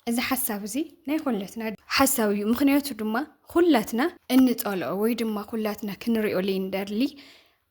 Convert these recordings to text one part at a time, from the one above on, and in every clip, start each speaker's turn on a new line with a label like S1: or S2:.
S1: እዚ ሓሳብ እዚ ናይ ኩለትና ሓሳብ እዩ። ምክንያቱ ድማ ኩላትና እንጸልኦ ወይ ድማ ኩላትና ክንሪኦ ዘይንደሊ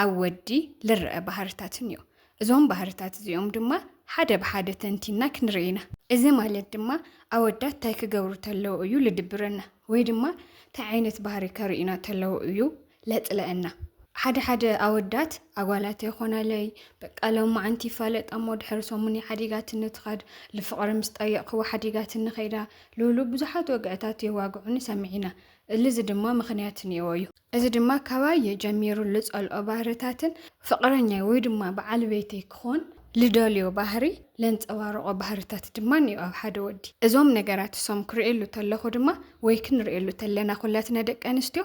S1: ኣብ ወዲ ልረአ ባህርታትን እዩ። እዞም ባህርታት እዚኦም ድማ ሓደ ብሓደ ተንቲና ክንርኢ ኢና። እዚ ማለት ድማ ኣወዳት እንታይ ክገብሩ ተለዉ እዩ ልድብረና ወይ ድማ እንታይ ዓይነት ባህሪ ከርእዩና ተለዉ እዩ ለጥለእና። ሓደ ሓደ ኣወዳት ኣጓላት ኣይኮናለይ በቃ ሎማዓንቲ ይፋለጣ እሞ ድሕሪ ሰሙን እያ ሓዲጋትኒ ትኸድ ልፍቕሪ ምስ ጠየቕክዋ ሓዲጋትኒ ከይዳ ልብሉ ብዙሓት ወግዕታት የዋግዑኒ ሰሚዒና እልዚ ድማ ምኽንያት እኒኦዎ እዩ እዚ ድማ ካባየ ጀሚሩ ልጸልኦ ባህርታትን ፍቕረኛይ ወይ ድማ በዓል ቤተይ ክኾን ልደልዮ ባህሪ ለንጸባርቖ ባህርታት ድማ እኒኦ ኣብ ሓደ ወዲ እዞም ነገራት እሶም ክርእየሉ ተለኹ ድማ ወይ ክንርእየሉ ተለና ኩላትና ደቂ ኣንስትዮ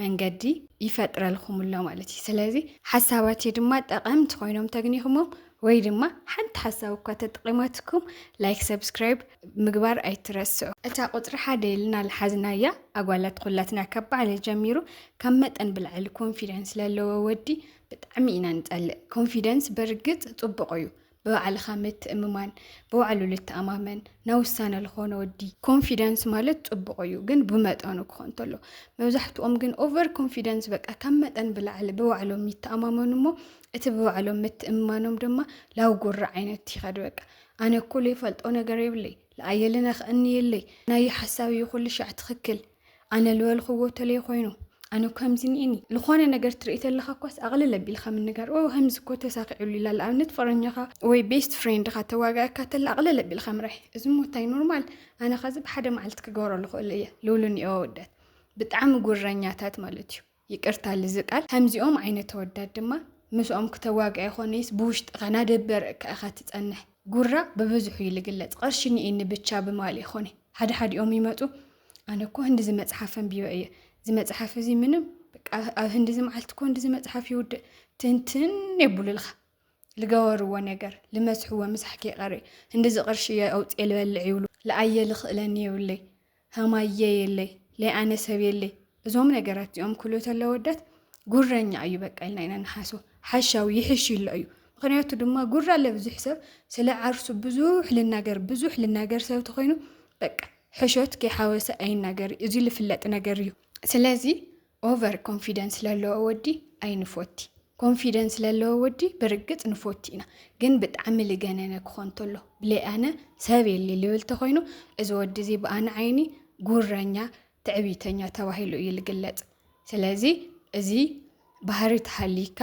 S1: መንገዲ ይፈጥረልኹም ኣሎ ማለት እዩ ስለዚ ሓሳባትይ ድማ ጠቐምቲ ኮይኖም ተግኒኹሞም ወይ ድማ ሓንቲ ሓሳብ እኳ ተጠቒማትኩም ላይክ ሰብስክራይብ ምግባር ኣይትረስዑ እታ ቁፅሪ ሓደ ኢልና ልሓዝናያ ኣጓላት ኩላትና ካብ ባዕለ ጀሚሩ ካብ መጠን ብልዕሊ ኮንፊደንስ ለለዎ ወዲ ብጣዕሚ ኢና ንፀልእ ኮንፊደንስ በርግፅ ፅቡቕ እዩ ብባዕልኻ ምትእምማን ብባዕሉ ልተኣማመን ናብ ውሳነ ልኾነ ወዲ ኮንፊደንስ ማለት ፅቡቕ እዩ ግን ብመጠኑ ክኾን እንተሎ መብዛሕትኦም ግን ኦቨር ኮንፊደንስ በቃ ካብ መጠን ብላዕሊ ብባዕሎም ይተኣማመኑ እሞ እቲ ብባዕሎም ምትእምማኖም ድማ ላው ጉራ ዓይነት ይኸድ በቃ ኣነ እኮ ዘይፈልጦ ነገር የብለይ ለኣየልን ኣኽእኒ የለይ ናይ ሓሳብ እዩ ኩሉ ሻዕ ትኽክል ኣነ ልበልኽዎ ተለይ ኮይኑ ኣነ ከምዚ ኒኒ ዝኾነ ነገር ትርኢ ተለካ እኳስ ኣቕልል ኣቢልካ ምንጋር ኦ ከምዚ እኮ ተሳኪዑሉ ኢላ ንኣብነት ፍቅረኛኻ ወይ ቤስት ፍሬንድኻ ተዋጋእካ ተለ ኣቕልል ኣቢልካ ምራይ እዚ ሞታይ ኖርማል ኣነ ኸዚ ብሓደ መዓልቲ ክገብረሉ ክእሉ እየ ልብሉ ኒኦ ወደት ብጣዕሚ ጉረኛታት ማለት እዩ ይቅርታ ልዚ ቃል ከምዚኦም ዓይነት ኣወዳት ድማ ምስኦም ክተዋግኣ ይኾነይስ ብውሽጥኻ ናደበርቅካ ኢኻ ትጸንሕ ጉራ ብብዝሑ እዩ ልግለጽ ቅርሺ ኒኢኒ ብቻ ብማል ይኾነ ሓድሓዲኦም ይመጹ ኣነ እኮ ህንዲ ዝመጽሓፍ ኣንቢበ እየ ዝመጽሓፍ እዚ ምንም ኣብ ህንዲ እዚ መዓልቲ እኮ ህንዲ ዝመጽሓፍ ይውድእ ትንትን የብሉልኻ ልገበርዎ ነገር ልመስሕዎ ምሳሕ ከይቀሪ እንድዚ ቅርሺ እየ ኣውፅኤ ልበልዕ ይብሉ ልኣየ ልኽእለኒ የብለይ ሃማየ የለይ ለይኣነ ሰብ የለይ እዞም ነገራት እዚኦም ክሉ ተለ ወዳት ጉረኛ እዩ በቃ ኢልና ኢና ንሓስቦ ሓሻዊ ይሕሽ ይሎ እዩ ምክንያቱ ድማ ጉራ ለብዙሕ ሰብ ስለ ዓርሱ ብዙሕ ልናገር ብዙሕ ልናገር ሰብ ተኮይኑ በቃ ሕሾት ከይሓወሰ ኣይናገር እዚ ልፍለጥ ነገር እዩ ስለዚ ኦቨር ኮንፊደንስ ለለዎ ወዲ ኣይንፎቲ ኮንፊደንስ ለለዎ ወዲ ብርግጽ ንፎቲ ኢና ግን ብጣዕሚ ልገነነ ክኾን ተሎ ብለይ ኣነ ሰብ የሊ ልብል ተኾይኑ እዚ ወዲ እዚ ብኣነ ዓይኒ ጉረኛ ትዕቢተኛ ተባሂሉ እዩ ልግለጽ ስለዚ እዚ ባህሪ ተሃሊካ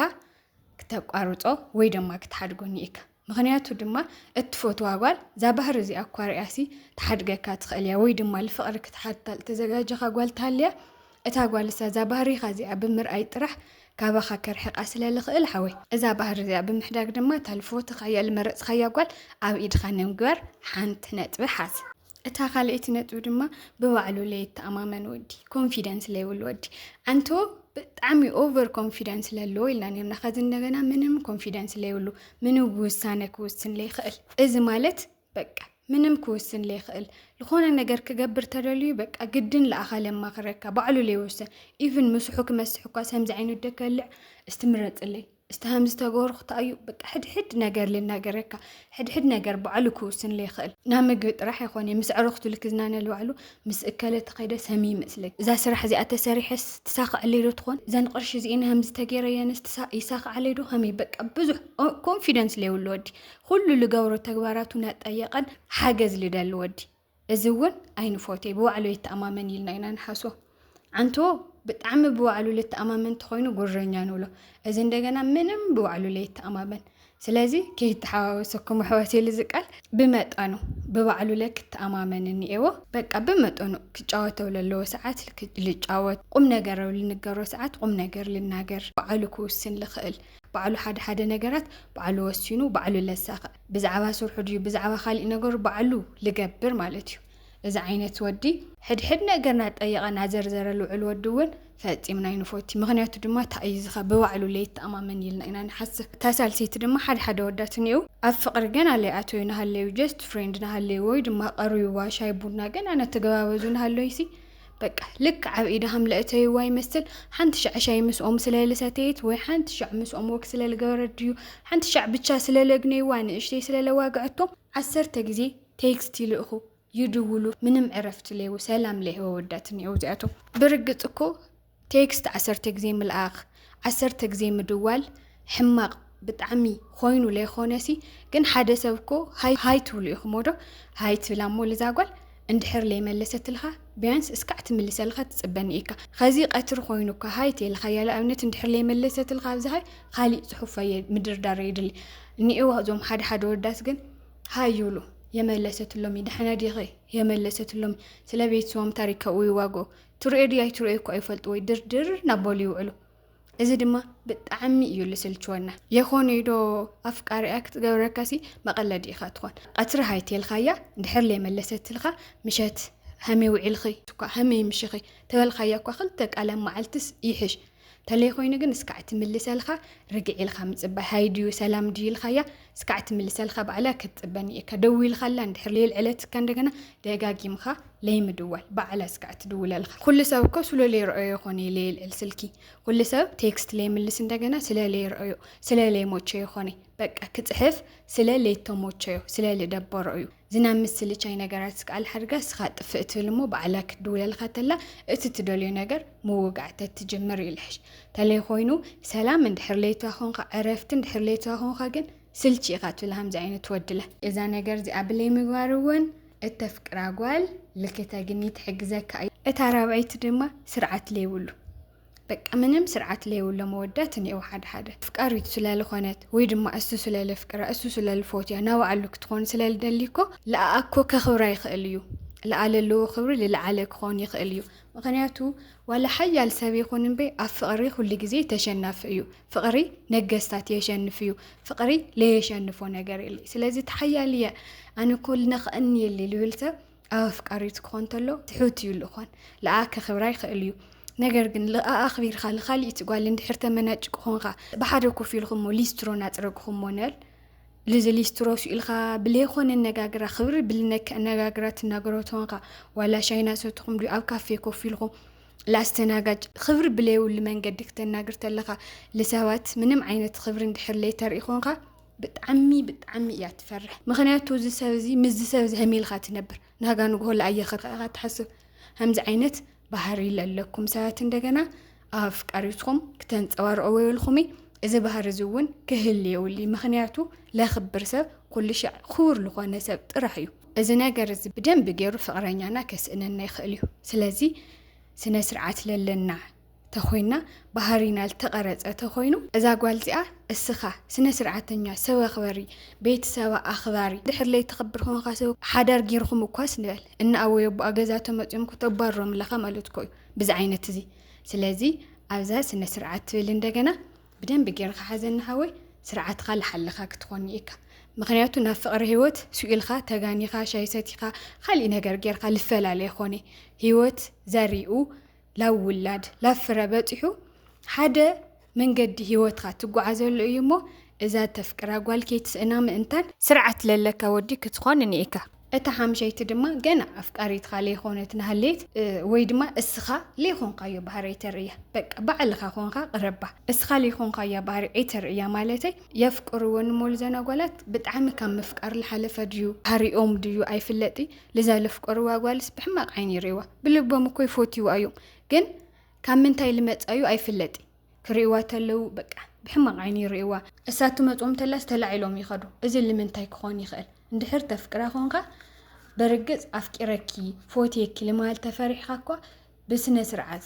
S1: ክተቋርጾ ወይ ድማ ክትሓድጎ ኒኢካ ምኽንያቱ ድማ እትፈትዋ ጓል እዛ ባህሪ እዚኣ እኳ ሪኣሲ ትሓድገካ ትኽእል እያ ወይ ድማ ልፍቕሪ ክትሓትታ ልተዘጋጀኻ ጓል ትሃልያ እታ ጓል እሳ እዛ ባህሪኻ እዚኣ ብምርኣይ ጥራሕ ካባኻ ከርሕቃ ስለ ልኽእል ሓወይ እዛ ባህሪ እዚኣ ብምሕዳግ ድማ እታ ልፈትኻ እያ ልመረጽኻያ ጓል ኣብ ኢድኻ ንምግባር ሓንቲ ነጥቢ ሓዝ። እታ ካልኣይቲ ነጥቢ ድማ ብባዕሉ ለይተኣማመን ወዲ ኮንፊደንስ ለይብሉ ወዲ ኣንቶ ብጣዕሚ ኦቨር ኮንፊደንስ ለለዎ ኢልና ነርና ከዚ እንደገና ምንም ኮንፊደንስ ለይብሉ ምንም ውሳነ ክውስን ለይኽእል እዚ ማለት በቃ ምንም ክውስን ለይኽእል ዝኾነ ነገር ክገብር ተደልዩ በቃ ግድን ለኣኻለ ማኽረካ ባዕሉ ለይወስን ኢቭን ምስሑ ክመስሕ እኳ ሰምዚ ዓይነት ደከልዕ እስትምረፅለይ እስቲ ከም ዝተገበርኩ ተኣዩ በቃ ሕድሕድ ነገር ልናገረካ ሕድሕድ ነገር ባዕሉ ክውስን ይኽእል ናብ ምግቢ ጥራሕ ይኾን ምስ ዕረኽቱ ልክዝናነ ልባዕሉ ምስ እከለ ተኸይደ ሰሚ ይመስለኝ እዛ ስራሕ እዚኣ ተሰሪሐስ ትሳኽዐለይ ዶ ትኾን እዘን ቅርሺ እዚእን ከምዚ ተገይረየንስ ይሳኽዓለይ ዶ ከመይ በቃ ብዙሕ ኮንፊደንስ ለይብሉ ወዲ ኩሉ ልገብሮ ተግባራቱ ናጠየቀን ሓገዝ ልደሊ ወዲ እዚ እውን ኣይንፎቴ ብባዕሉ ይተኣማመን ኢልና ኢና ንሓስቦ ዓንቶ ብጣዕሚ ብባዕሉ ልተኣማመን እንተኾይኑ ጉረኛ ንብሎ እዚ እንደገና ምንም ብባዕሉ ለይተኣማመን ስለዚ ከይተሓዋወሰኩም ኣሕዋት ኢሉ ዝቃል ብመጠኑ ብባዕሉ ለ ክተኣማመን እኒኤዎ በቃ ብመጠኑ ክጫወተው ለለዎ ሰዓት ልጫወት ቁም ነገረው ልንገሮ ሰዓት ቁም ነገር ልናገር በዓሉ ክውስን ልኽእል ባዕሉ ሓደ ሓደ ነገራት ባዕሉ ወሲኑ ባዕሉ ለሳክዕ ብዛዕባ ስርሑ ድዩ ብዛዕባ ካሊእ ነገሩ ባዕሉ ልገብር ማለት እዩ እዚ ዓይነት ወዲ። ሕድሕድ ነገር ናጠየቀ ናዘርዘረ ልውዕል ወዲ እውን ፈፂምና ኣይንፎቲ ምክንያቱ ድማ ታእይዝከ ብባዕሉ ለይተኣማመን ኢልና ኢና ንሓስብ እታ ሳልሰይቲ ድማ ሓደ ሓደ ኣወዳት እኒእው ኣብ ፍቅሪ ገና ለይኣተዩ ናሃለዩ ጀስት ፍሬንድ ናሃለዩ ወይ ድማ ቀርብዋ ሻይ ቡና ገና ናተገባበዙ ናሃለዩሲ በቃ ልክዕ ኣብ ኢደ ሃም ለእተይዋ ይመስል ሓንቲ ሻዕ ሻይ ምስኦም ስለ ልሰተየት ወይ ሓንቲ ሻዕ ምስኦም ወግ ስለ ልገበረት ድዩ ሓንቲ ሻዕ ብቻ ስለ ለግነይዋ ንእሽተይ ስለ ለዋግዐቶም ዓሰርተ ግዜ ቴክስት ይልእኹ ይድውሉ ምንም ዕረፍቲ ለይቡ ሰላም ለይህወ ወዳት እኒኤው እዚኣቶም ብርግፅ እኮ ቴክስት ዓሰርተ ግዜ ምልኣኽ ዓሰርተ ግዜ ምድዋል ሕማቅ ብጣዕሚ ኾይኑ ለይኾነሲ ግን ሓደ ሰብ እኮ ሃይ ሃይ ትብሉ ኢኹሞዶ ሃይ ትብላ እሞ ልዛ ጓል እንድሕር ለይመለሰትልኻ ቢያንስ እስካዕ ትምልሰልኻ ትጽበኒ ኢካ ኸዚ ቀትሪ ኾይኑ እካ ሃይ ተይልኻያ ልኣብነት እንድሕር ለይመለሰትልኻ ኣብዚ ሃይ ኻሊእ ጽሑፍ ኣየ ምድርዳር የድሊ እኒኤው እዞም ሓደ ሓደ ወዳት ግን ሃይ ይብሉ የመለሰትሎሚ ደሕና ዲኺ የመለሰትሎሚ ስለ ቤተሰቦም ታሪክ ካብኡ ይዋግኡ ትርእዮ ድዩ ኣይትርእዮ እኮ ኣይፈልጥዎይ ድርድር ናበሉ ይውዕሉ እዚ ድማ ብጣዕሚ እዩ ልስልችወና የኾኑ ዶ ኣፍቃሪያ ክትገብረካሲ መቐለዲ ኢኻ ትኾን ቀትሪ ሃይቴልካያ ድሕር ለይመለሰትልካ ምሸት ሃመይ ውዒልኺ እኳ ሃመይ ምሽኺ ተበልካያ እኳ ክልተ ቃል ኣብ መዓልትስ ይሕሽ ተለይ ኮይኑ ግን እስካዕ ትምልሰልካ ርግዕ ኢልካ ምጽባይ ሃይ ድዩ ሰላም ድዩ ኢልካያ እስካዕ ትምልሰልካ ባዕላ ክትጽበኒ እካ ደዊልካላ እንድሕር ለይልዐለትካ እንደገና ደጋጊምካ ለይምድዋል ባዕላ እስካዕ ትድውለልካ ኩሉ ሰብ እኮ ስሎ ለይረኦዮ ይኮነ ለይልዕል ስልኪ ኩሉ ሰብ ቴክስት ለይምልስ እንደገና ስለ ለይረኦዮ ስለ ለይሞቸዮ ይኮነ በቃ ክጽሕፍ ስለ ለይተሞቸዮ ስለ ልደበሮ እዩ ዝናብ ምስ ስልቻይ ነገራት ስክኣል ሓድጋ ስኻ ጥፍእ ትብል እሞ ባዕላ ክትድውለልኻ ተላ እቲ ትደልዮ ነገር ምውጋዕ ተትጅምር እዩ ልሕሽ ተለይ ኾይኑ ሰላም እንድሕር ለይትዋ ኾንኻ ዕረፍቲ እንድሕር ለይትዋ ኾንኻ ግን ስልቺ ኢኻ ትብል ሃምዚ ዓይነት ወድለ እዛ ነገር እዚኣ ብለይ ምግባር እውን እተፍቅራ ጓል ልክተ ግኒ ትሕግዘካ እዩ እታ ራብዐይቲ ድማ ስርዓት ለይብሉ በቃ ምንም ስርዓት ለይብሎ መወዳት እኔው ሓደ ሓደ ፍቃሪት ስለልኾነት ወይ ድማ እሱ ስለልፍቅራ እሱ ስለልፎትያ ናባዕሉ ክትኾን ስለልደሊ እኮ ለኣኣ እኮ ከኽብራ ይኽእል እዩ ለኣ ለለዎ ክብሪ ልለዓለ ክኾን ይኽእል እዩ ምክንያቱ ዋላ ሓያል ሰብ ይኹን እምበይ ኣብ ፍቕሪ ኩሉ ግዜ ተሸናፊ እዩ ፍቕሪ ነገስታት የሸንፍ እዩ ፍቕሪ ለየሸንፎ ነገር የለ ስለዚ ተሓያል እየ ኣነ እኮ ልነኽእኒ የለ ልብል ሰብ ኣብ ኣፍቃሪቱ ክኾን ተሎ ትሑት እዩ ልእኾን ልኣ ከኽብራ ይኽእል እዩ ነገር ግን ልኣ ኣኽቢርካ ልኻሊእቲ ጓል እንድሕር ተመናጭ ክኾንካ ብሓደ ኮፍ ኢልኹሞ ሊስትሮ ናፅረግኹሞ ነል ልዚ ሊስትሮ ስኢልካ ብለይኾነ ኣነጋግራ ክብሪ ብልነክ ኣነጋግራ ትናገሮ ትኾንካ ዋላ ሻይና ሰትኹም ድዩ ኣብ ካፌ ኮፍ ኢልኹም ላስተናጋጅ ክብሪ ብለይብሉ መንገዲ ክተናግር ተለኻ ልሰባት ምንም ዓይነት ክብሪ እንድሕር ለይተርኢ ኾንካ ብጣዕሚ ብጣዕሚ እያ ትፈርሕ ምክንያቱ እዚ ሰብ እዚ ምስዚ ሰብ እዚ ሀም ኢልካ ትነብር ናጋ ንግሆ ላኣየኸርካ ኢኻ ትሓስብ ከምዚ ዓይነት ባህሪ ለለኩም ሰባት እንደገና ኣብ ኣፍቃሪትኩም ክተንፀባርቆ ወይልኩሚ እዚ ባህሪ እዚ እውን ክህል የውሊ ምክንያቱ ለክብር ሰብ ኩሉ ሻዕ ክቡር ዝኾነ ሰብ ጥራሕ እዩ እዚ ነገር እዚ ብደንብ ገይሩ ፍቅረኛና ከስእነና ይኽእል እዩ ስለዚ ስነ ስርዓት ለለና ተኾይና ባህሪና ልተቀረጸ ተኾይኑ እዛ ጓል እዚኣ እስኻ ስነ ስርዓተኛ ሰብ ኣኽበሪ ቤት ሰባ ኣኽባሪ ድሕር ለይ ተኽብር ኾንኻ ሰብ ሓዳር ጊርኹም እኳስ ንበል እና ኣወይ ኣቦኣ ገዛ ተመጽዮም ኩተባሮም ኣለኻ ማለት ኮዩ ብዚ ዓይነት እዚ ስለዚ ኣብዛ ስነ ስርዓት ትብል እንደገና ብደንብ ጌርኻ ሓዘኒ ሃወይ ስርዓትኻ ልሓልኻ ክትኾን እካ ምክንያቱ ናብ ፍቅሪ ህይወት ስኢልካ ተጋኒኻ ሻይ ሰቲኻ ካሊእ ነገር ጌርካ ልፈላለ ይኾነ ህይወት ዘሪኡ ላብ ውላድ ላብ ፍረ በጺሑ ሓደ መንገዲ ሂወትካ ትጓዓዘሉ እዩ እሞ እዛ እተፍቅራ ጓል ከይትስእና ምእንታን ስርዓት ለለካ ወዲ ክትኾን እኒኢካ። እታ ሓምሸይቲ ድማ ገና ኣፍቃሪትካ ለይኾነት ናሃለየት ወይ ድማ እስኻ ለይኾንካዮ ባህሪ ኣይተርእያ በቃ ባዕልኻ ኾንካ ቅረባ እስኻ ለይኾንካያ ባህሪ ኣይተርእያ ማለተይ የፍቅርወን እሞ ልዘን ኣጓላት ብጣዕሚ ካብ ምፍቃር ልሓለፈ ድዩ ባህሪኦም ድዩ ኣይፍለጥይ ልዛ ለፍቀርዋ ጓልስ ብሕማቅ ዓይኒ ይርእዋ ብልቦም እኮ ይፎትይዋ እዩም ግን ካብ ምንታይ ልመጻ እዩ ኣይፍለጢ ክርእዋ ተለው በቃ ብሕማቅ ዓይኒ ይርእዋ እሳ ትመጾም ተላስ ተላዒሎም ይከዱ እዚ ልምንታይ ክኮን ይክእል እንድሕር ተፍቅራ ኮንካ በርግጽ ኣፍቂረኪ ፎትየኪ ልማል ተፈሪሕካ እኳ ብስነስርዓት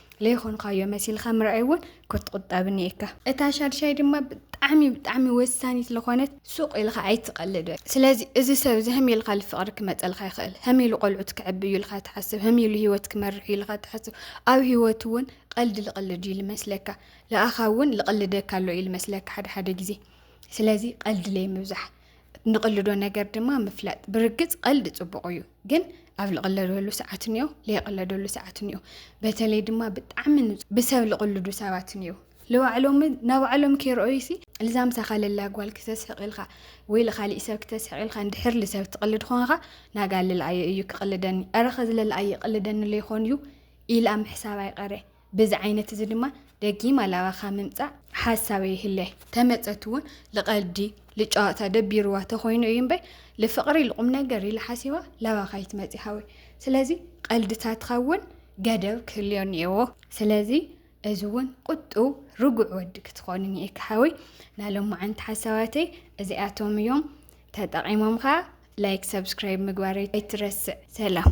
S1: ለይኾንኻዮ መሲልኻ ምርኣይ እውን ክትቑጠብ እኒኤካ። እታ ሻድሻይ ድማ ብጣዕሚ ብጣዕሚ ወሳኒት ስለኾነት ሱቕ ኢልኻ ኣይትቐልድ በል። ስለዚ እዚ ሰብ እዚ ህም ኢልካ ልፍቕሪ ክመፀልካ ይኽእል፣ ህም ኢሉ ቆልዑት ክዕብ እዩ ኢልካ ትሓስብ፣ ህም ኢሉ ህይወት ክመርሕ እዩ ኢልካ ትሓስብ፣ ኣብ ህይወት እውን ቐልዲ ልቕልድ እዩ ልመስለካ፣ ልኣኻ እውን ልቕልደካ ኣሎ እዩ ልመስለካ ሓደ ሓደ ግዜ። ስለዚ ቐልዲ ለይምብዛሕ። ንቕልዶ ነገር ድማ ምፍላጥ ብርግፅ ቀልዲ ፅቡቕ እዩ ግን ኣብ ልቕለደሉ ሰዓት እኒኦ ዘይቕለደሉ ሰዓት እኒኦ በተለይ ድማ ብጣዕሚ ብሰብ ልቕልዱ ሰባት እኒኦ ንባዕሎም ናባዕሎም ከይረኣዩ ሲ ልዛ ምሳኻ ለላ ጓል ክተስሕቕ ኢልካ ወይ ልካሊእ ሰብ ክተስሕቕ ኢልካ እንድሕር ልሰብ ትቕልድ ኾንካ ናጋ ልልኣየ እዩ ክቕልደኒ ኣረኸ ዝለልኣየ ይቕልደኒ ለይኾን እዩ ኢላ ምሕሳብ ኣይቀረ በዚ ዓይነት እዚ ድማ ደጊማ ላባኻ ምምጻእ ሓሳብ ኣይህለ። ተመጸት እውን ልቐልዲ ልጨዋታ ደቢሩዋ ተኾይኑ እዩ እምበይ ልፍቕሪ ልቑምነገር ኢላ ሓሲባ ላባኻ ኣይትመጺ ሓወይ። ስለዚ ቐልድታትኻ እውን ገደብ ክህልዮ እኒኤዎ። ስለዚ እዚ እውን ቁጡው ርጉዕ ወዲ ክትኾን እኒኤካ ሓወይ። ናይ ሎማዓንቲ ሓሳባተይ እዚኣቶም እዮም። ተጠቒሞም ከኣ ላይክ ሰብስክራይብ ምግባር ኣይትረስዕ። ሰላም።